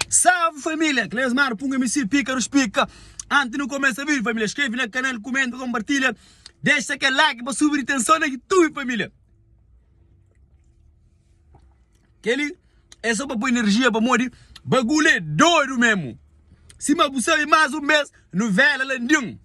Salve família, Cleus Mara para um MC pica dos pica Antes de não começar vídeo família, inscreve no canal, comenta, compartilha Deixa aquele like para subir tensão na YouTube família Aquele é só para pôr energia para modi Bagulho é doido mesmo Se mas você mais um mês, novela landim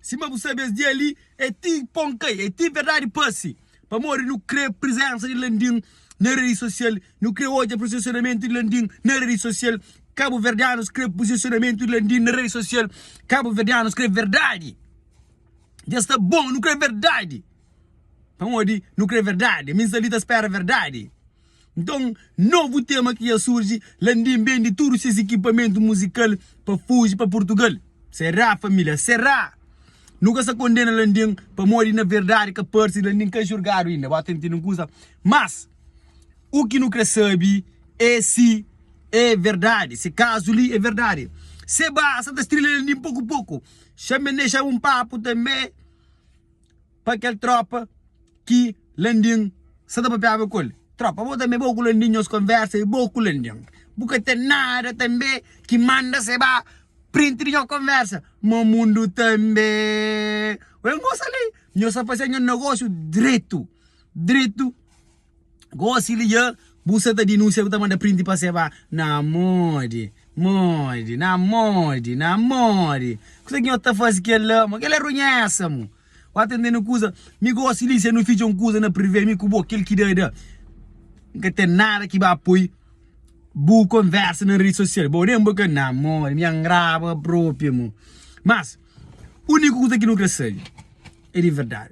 Sima bu sabe es dia li é ti pon kai é ti verdadi pase pamodi nu kre prizensa di Landim na redi sosial nu kre odja prizisionamentu di Landim na redi sosial kabuverdianus kre prizisionamentu di Landim na redi sosial kabuverdianus kre verdadi dja sta bon nu kre verdadi pamodi nu kre verdadi mi sta li ta spera verdadi. Nton, novu tema ki dja surji, Landim bende tudu ses ikipamentu muzikal pa fuji pa Purtugal. Será, família? Será? Nu ka sta kondena Landim pamodi na verdadi ka parse Landim ka julgadu inda. Bo ta ntende un kuza? Mas, u ki nu krê sabe é si é verdadi, si kazu li é verdadi. Seba sa ta strilha Landim poku-poku. Xambe-n dexaba un papu tanbe. pa kel tropa ki Landim sa ta papiaba ku el. Tropa, bo tanbe, bo ku Landim nhos konversa i bo ku Landim bu ka ten nada tanbe ki manda se ba print di nho konversa? Mo mundu tanbe wen gosa li, nhos sa fase nho negosu dretu, dretu. Gosi li dja bu sa ta dinunsia bu ta manda print pa se ba na modi modi na modi na modi kusa ki nho ta fazi kel la mo kel la runhesa mo wata intende kusa mi gosi li se nu fidja un kusa na privê mi ku bo kel ki da da N ka ten nada ki ba poi bu konversa na redi sosial bo nen bo ka na modi mi angraba propi mo mas uniku kusa ki nu kre sabe e di verdadi.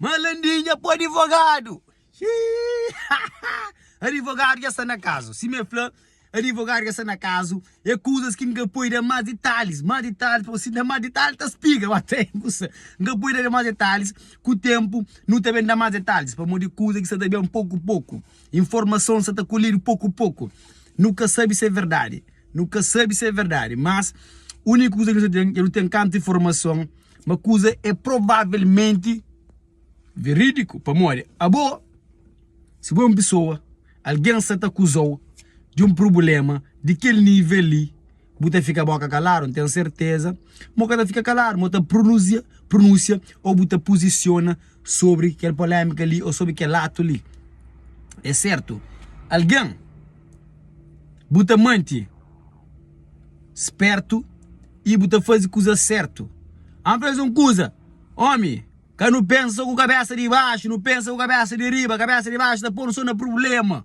Ma landinha pô adivogadu xiii adivogadu dja sta na kazu sima el fla adivogadu dja sta na kazu e kuzas ki nka poi da más ditalis más ditalis pô si da más ditalis ta spiga ba ta usa nka poi da más ditalis ku ténpu nu ta ben da más ditalis pamodi kuza ki sta ta ben poku poku informason sta ta kolhidu poku poku nu ka sabe si é verdadi nu ka sabe si é verdadi mas úniku kuza ki nu sa ten é nu ten kantu informason ma kuza é provavelmenti veridiku. Pamodi abo, si bo é un pesoa, algen sta ta akuza-u di un prubléma di kel nível li, bu ta fika bóka kaladu? N ten serteza ma bu ka ta fika kaladu, ma bu ta prunuzia, prunúsia ô bu ta puzisiona sobri kel polémika li ô sobri kel atu li. É sertu, algen bu ta mante. Spértu y bu ta faze kuzas sértu Â fla-s un kuza, Ómi, ka nu pensa ku kabésa di baxu, nu pensa ku kabésa di riba Kabésa di baxu ta pô-nu sô na prubléma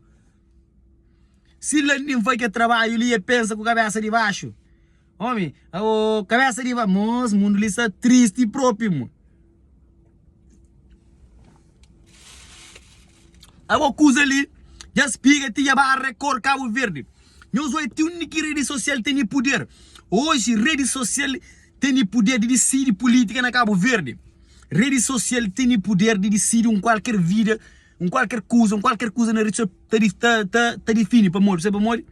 Si Landim faze kel trabadju li, el pensa ku kabésa di baxu Ómi, aô, kabésa di baxu, mô-s mundu li sta tristi propi, mô. Abo kuza li dja spiga ti dja ba rekor Cabo Verde nhos oi ti undi ki redi sosial tene puder oji redi sosial tene puder di disidi pulítika na Cabo Verde redi sosial tene puder di disidi un kualker vida un kualker kuza un kualker kuza na redi sosial ta ta ta difini pamodi sabe pamodi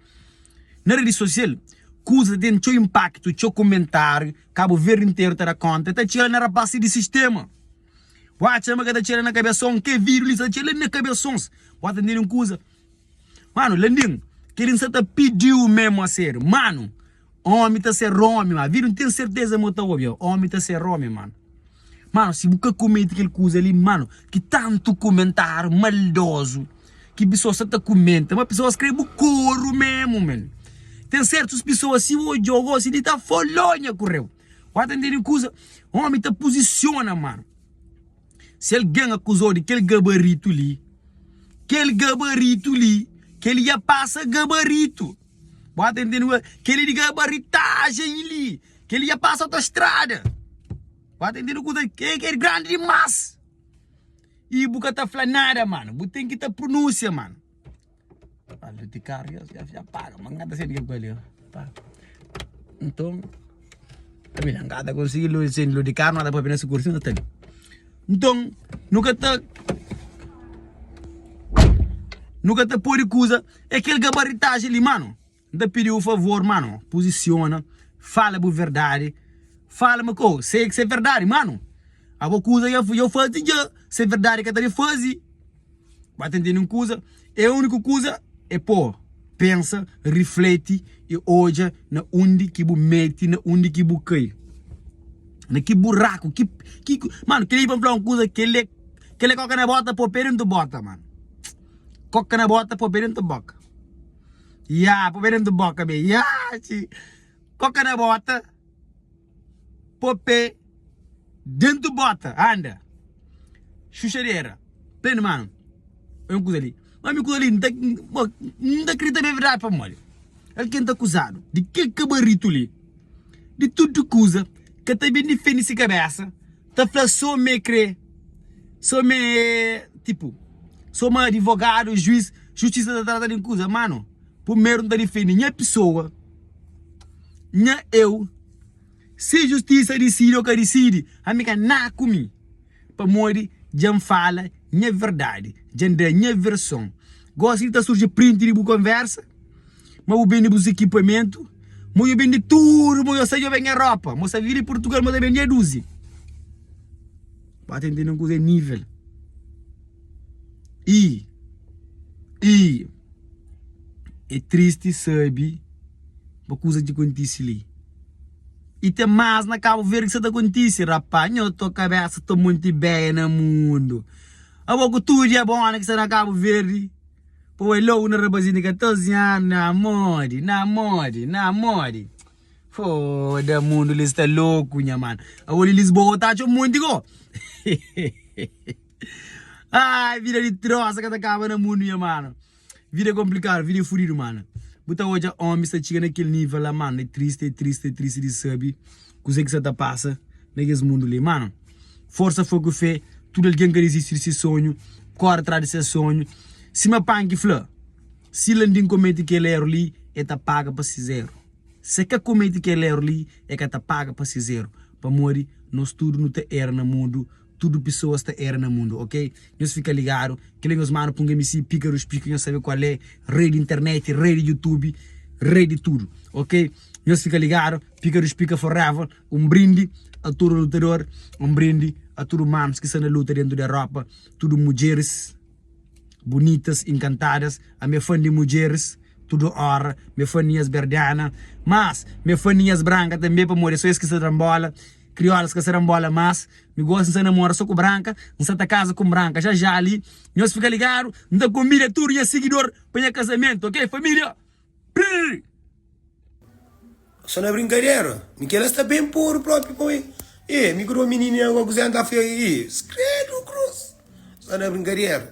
na redi sosial kuza ten txeu inpaktu txeu komentariu Cabo Verde inteiro ta da conta. Ta txela na rapazes di sistema. Bo atxa ma ka ta txela na cabeçon? Ke viru li sa ta txela na cabeçons. Bo ta ntende un kuza? Mano, Landim, keli N sa ta pidiu memo a serio. Mano, omi ta ser omi, ma viru N ten certeza ma bo ta obi. Omi ta ser omi, mano. Mano si bu ka komete kel kuza li mano ki tantu kumentáriu maldozu ki pesoas sta ta kumenta ma pesoas krê bu koru memu men ten sertus pesoas si odjau gosi li ta folou nha kurreu u ata ntende kuza omi ta puzisiona mano si algen akuzau di kel gabaritu li kel gabaritu li kel li dja pasa gabaritu. Bo ata intende kua keli di gabaritajen li, keli dja pasa autostrada. Bo ata intende kuza li, keli k'er grandi dimas. Y bu ka ta fla nada mano, bu ten ki ta prunusia mano. Barulho di carro dja dja dja paga ma n'ka ta sedu ke ku el li ho pa. Nton, ta bini n'ka ta konsigi lu sendi lu di carro n'ka ta papia na sikur si n'ka ta li. Nton, nu ka ta, nu ka ta podi kuza. É kel gabaritaji li mano N ta pidi-u un favor mano Puzisiona, fala bu verdadi Fala ma k'o sei ki s'é verdadi mano Abo kuza ya ya fazi dja S'é verdadi ka ta di fazi Ba ta ntende un kuza É uniku kuza é pô Pensa, rifleti i odja na undi ki bu meti Na undi ki bu kai Na ki buraku ki ki Mano, kel-li pa N fla-u un kuza Kel-li é kel-li é kóka na bóta Pô pé dentu bóta mano. Koka na bota po be dentro di boka Ya po be dentro di boka be Ya txii Koka na bota po pe dentro di bota Anda Xuxadera Prende mano Oi un kuza li Ma mi kuza li nta bo N ta kridita ma é verdadi pamodi El ke N ta akuzadu di kel kabaritu li Di tudu kuza Ka ta ben difende si kabesa Ta fla so me kre so me tipu so ma adivogadu juiz justisa ta trata di kuza mano pumeru nta difendi nha pisoa nha eu si justisa disidi o ka disidi ami ka na ku mi pamodi dja n fala nha verdadi dja n da nha verson gosi di ta surji printi di bu konversa. Má bu bende bus ikipamentu Mo yo bende tudu Mo yo sai yo ben nha ropa Mo sa viri di purtugal Mo ta ben nha duzi Ba ta intende un kuza é nivel i i é tristi sabe ba kuza ki kontise li i ten más na kabo verde ki sa ta kontise rapá nho to kabesa to monti ideia na mundu abo ku tudu dia bó na ki sta na kabo verde Pô é logu na rabazinhu di 14 anu Na modi, na modi, na modi Foda mundu li sta loku nha mano Aô li Lisboa ta txeu monti ko Ai vida di trosa ka ta kaba na mundu nha mano Vida é konplikadu, vida é fudidu mano Bu ta odja ómi sta txiga na kel nivel la mano É tristi, é tristi, é tristi di sabe. Kuzê ki sa ta pasa na kes mundu li? Mano, forsa, fogu i fé. Tudu algen ka dizisti di se sonhu, kóre atrás di ses sonhu. Sima Panki fla, si Landim komete kel éru li, el ta paga pa ses éru. Si el ka komete kel éru li, el ka ta paga pa ses éru, pamodi nos tudu nu ta éra na mundu. Tudu pisoas ta era na mundu ok nhos fika ligadu kila nhos manu pa un mc pika rus pika nhos sabe kual é rei di internet rei di youtube rei di tudu ok nhos fika ligadu pika rus pika forever un brindi a tudu lutador un brindi a tudu mams ki sta na luta dentu di europa tudu mudjeris bunitas inkantadas a me fan di mudjeris tudu ora me faninhas berdiana mas me faninhas branka tanbe pamodi é so es ki sta tra-m bola. Kriolas ka sera nbola mas mi gosi nsa namora so ku branka nsa ta kaza ku nbranka ja ja li nhos fika ligadu nta konbida tudu nha sigidor pa nha kazamentu ok familia prrr. Só na brinkadera? Mi kela sta bem poro propi pa mi e mi ku do minini na go kuze anta fia e skredo cruz so na brinkadera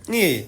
e.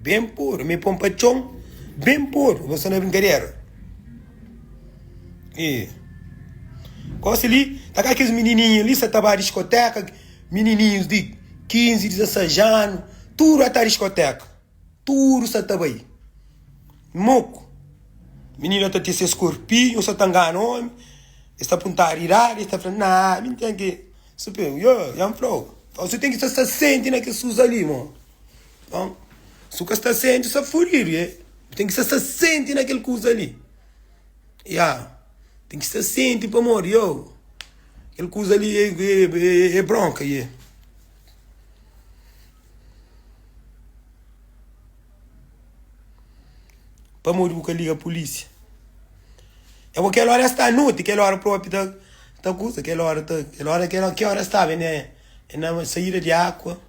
Ben pôru, mi pô-m pa txon Ben pôru, nu sta na brinkadera Ê Gosi li, ta ka kes minininhu li Sa ta ba diskotéka Minininhus di kinzi, dizesais anu Tudu a ta diskotéka Tudu sa ta bai Moku Mininu a ta tise ses korpinhu Sa ta ngana ómi Es ta puntadu idadi Es ta fla, Nah, mi n ten ki. Su pe un yo ya nflau. Nton su ten ki sa sta senti na kes kuza li mo. Nton su ka sta senti sa furidu ye. Bu ten ki sa sta senti na kel kuza li ya. Ten ki sta senti pamodi yo kel kuza li e bronka ye. Pamodi bu ka liga pulísia? É bo kel óra é sta noti, kel óra própi ta ta kuza, kel óra ta, kel óra kel óra ki óra staba na é na saída di ákua,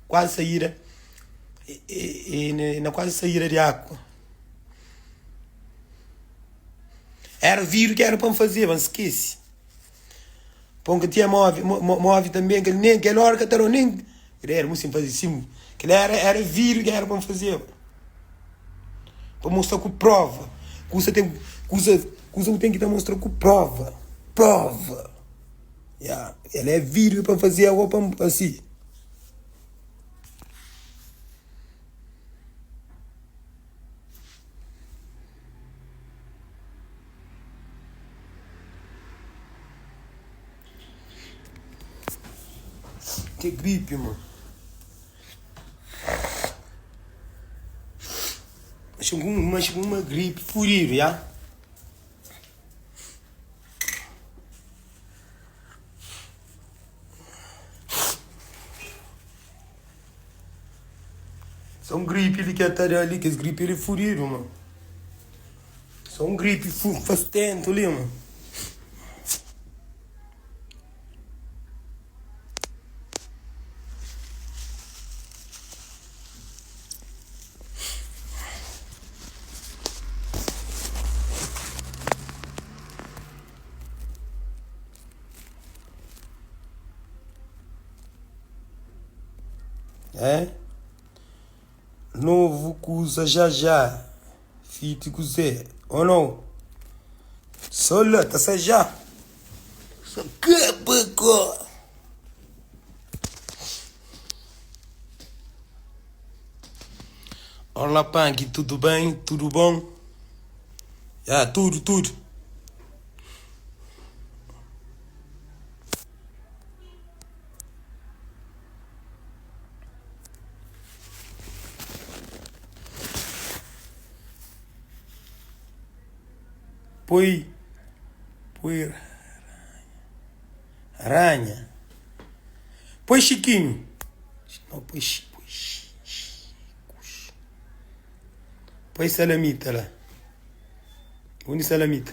kuazi saída é na kuazi saída di ákua. Éra vidru ki éra pa N fazeba, N skese. Pon ka tinha móvel, móvel tanbê, kel nem kel óra ka ta ró nem, kel-li éra mustin faze sim, kel-li éra éra vídiu ki éra pa-m fazeba, pa mostra ku próva, kusa ten kusa kusa ku ten ki ta mostra ku próva, próva, ya kel-li é vídiu pa-m faze ago pa-m asi. Ki gripi mon. Acha ku un acha ku uma gripe furido, ya? Só un gripe li ke ta da li kes gripe li fudidu ma Só un gripe fa stentu li ma É novu kuza jajá, fiti kuzê, o nau? Sô la ta sajá, sô ka pa ka. Olá panki, tudu ben? Tudu bon? Ya, tudu, tudu. Poi ranha Poi xikinhu Poi salamita la Poi salamita